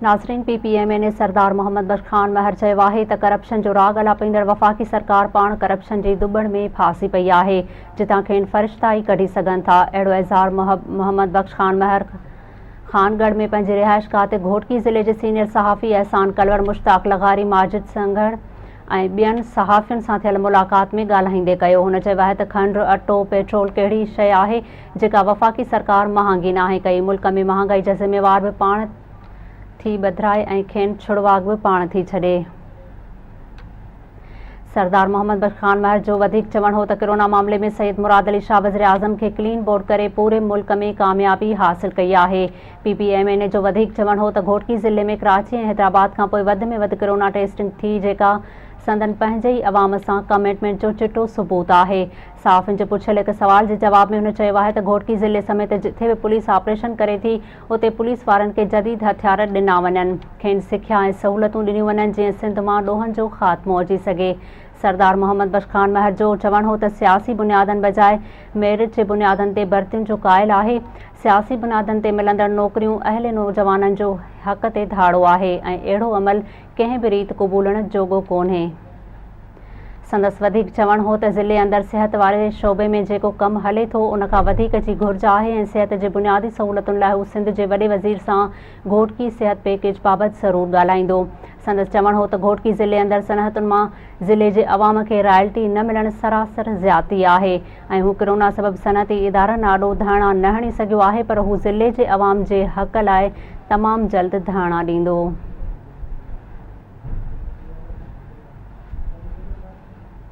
ناظرين P P M N A Sardar Muhammad Bakhsh Khan Mahar چيو آهي ته ڪرپشن جو راڳ الاپيندڙ وفاقي سرڪار پاڻ ڪرپشن جي دٻڻ ۾ ڦاسي پئي آهي جتان کين فرشتا ئي ڪڍي سگهن ٿا اهڙو اظهار محمد بخش خان مهر خان ڳڙهه ۾ پنهنجي رهائشگاهه تي گهوٽڪي ضلعي جي سينيئر صحافي احسان ڪلوڙ مشتاق لغاري ماجد سنگهڙ ۽ ٻين صحافين سان ٿيل ملاقات ۾ ڳالهائيندي ڪيو هن چيو آهي ته کنڊ اٽو پيٽرول ڪهڙي شيء آهي جيڪا وفاقي سرڪار مهانگي ناهي ڪئي، ملڪ ۾ مهانگائي جا ذميوار به پاڻ ٿي ٻڌرائي ۽ کين ڇڙواڳ به پاڻ ٿي ڇڏي. سردار محمد بخش خان مهر جو وڌيڪ چوڻ هو ته ڪرونا معاملي ۾ سيد مراد علي شاهه وزيراعظم کي ڪلين بورڊ ڪري پوري ملڪ ۾ ڪاميابي حاصل ڪئي آهي. P P M N A جو وڌيڪ چوڻ هو ته گهوٽڪي ضلعي ۾ ڪراچي ۽ حيدرآباد کانپوء وڌ ۾ وڌ ڪرونا ٽيسٽنگ ٿي جيڪا سندن پنهنجي ئي عوام سان ڪمٽمينٽ جو چٽو ثبوت آهي. صحافين جي پڇيل هڪ سوال جي جواب ۾ هن چيو آهي ته گهوٽڪي ضلعي سميت جتي به پوليس آپريشن ڪري ٿي اتي پوليس وارن کي جديد هٿيار ڏنا وڃن، کين سکيا ۽ سهولتون ڏنيون وڃن جيئن سنڌ مان ڏوهن جو خاتمو اچي سگهي. سردار محمد بخش خان مهر جو چوڻ هو ته سياسي بنيادن بجاء ميرٽ جي بنيادن تي ڀرتين جو قائل آهي، سياسي بنادن تي ملندڙ نوڪريون اهل نوجوانن جو حق تي ڌاڙو آهي ۽ اهڙو عمل ڪنهن به ريت قبولڻ جوڳو ڪونهي. سندس وڌيڪ چوڻ هو ته ضلعي اندر صحت واري شعبي ۾ جيڪو ڪم هلي ٿو ان کان وڌيڪ جي گهرج آهي ۽ صحت جي بنيادي سهولتن لاء هو سنڌ جي وڏي وزير سان گهوٽڪي صحت پيڪيج بابت ضرور ڳالهائيندو سندس چوڻ هو ته گهوٽڪي ضلعي اندر صنعتن مان ضلعي جي عوام کي رائلٽي نه ملڻ سراسر زيادتي آهي ۽ هو ڪرونا سبب صنعتي ادارن آڏو ڌرڻا نه هڻي سگهيو آهي پر هو ضلعي جي عوام جي حق لاء تمام جلد ڌرڻا ڏيندو.